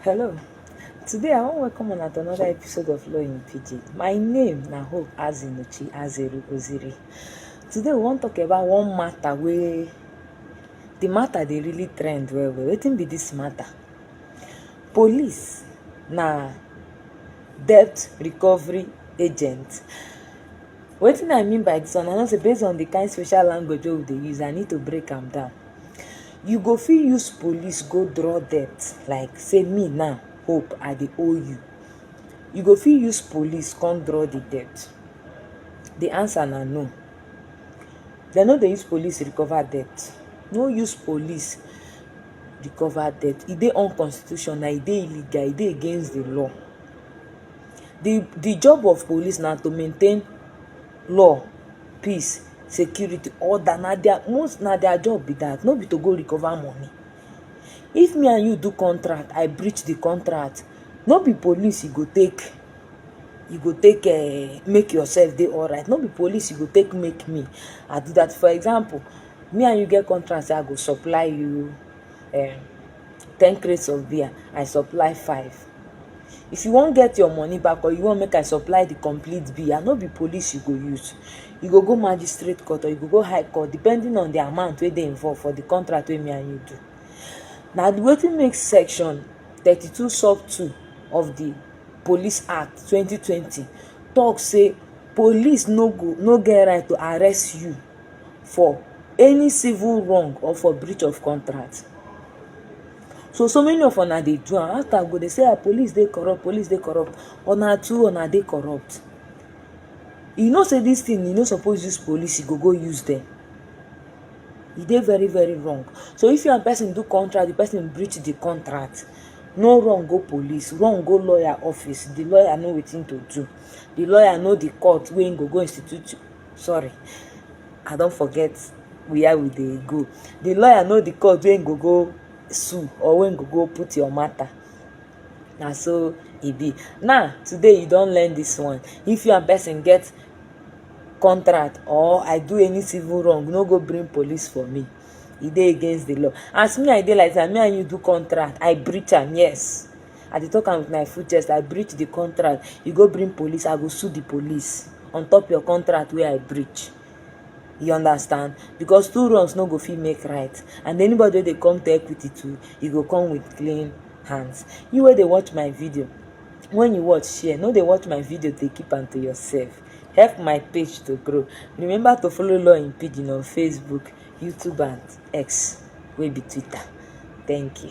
Hello, today I wan welcome una to another episode of Law in Pidgin. My name na Hope Azinuchi Azeru Oziri. Today we wan talk about one matter wey the matter dey really trend well well. Wetin be this matter? Police na debt recovery agent. Wetin I mean by this one, I know say based on the kind social language wey we dey use, I need to break am down. You go fit use police go draw debt like sey me now hope I dey owe you, you go fit use police come draw de debt? De answer na no. Dey no dey use police recover debt, no use police recover debt, e dey unconstitutional, e dey illegal, e dey against de law. De de job of police na to maintain law, peace, security, order na dia most na dia job be dat no be to go recover money. If me and you do contract I breach di contract no be police you go take you go take um make yourself dey alright no be police you go take make me I do dat for example me and you get contract sey I go supply you um ten crates of beer, I supply five. If you wan get your money back or you wan make I supply the complete beer, no be police you go use. You go go magistrate court or you go go high court depending on the amount wey dey involved for the contract wey me and you do. Na wetin make section thirty two sub two of the Police Act twenty twenty talk say police no go no get right to arrest you for any civil wrong or for breach of contract so so many of una dey do am after i go dey say ah police dey corrupt police dey corrupt una too una dey corrupt you know say this thing you no suppose use police you go go use them e dey very very wrong so if you and person do contract the person breach the contract no run go police run go lawyer office the lawyer know wetin to do the lawyer know the court wey him go go institute sorry i don't forget where we dey go the lawyer know the court wey go go sue or wey go go put your matter na so e be now today you don learn this one if you and person get contract or i do any civil wrong no go bring police for me e dey against the law as me i dey like that me and you do contract i breach am yes I dey talk am with my full chest, I breach the contract, you go bring police, I go sue the police on top your contract wey I breach. You understand? Because two wrongs no go fit make right. And anybody wey dey come to equity too, you go come with clean hands. You wey dey watch my video, when you watch, share. No dey watch my video, dey keep am to yourself. Help my page to grow. Remember to follow Law in Pidgin on Facebook, YouTube and X wey be Twitter. Thank you.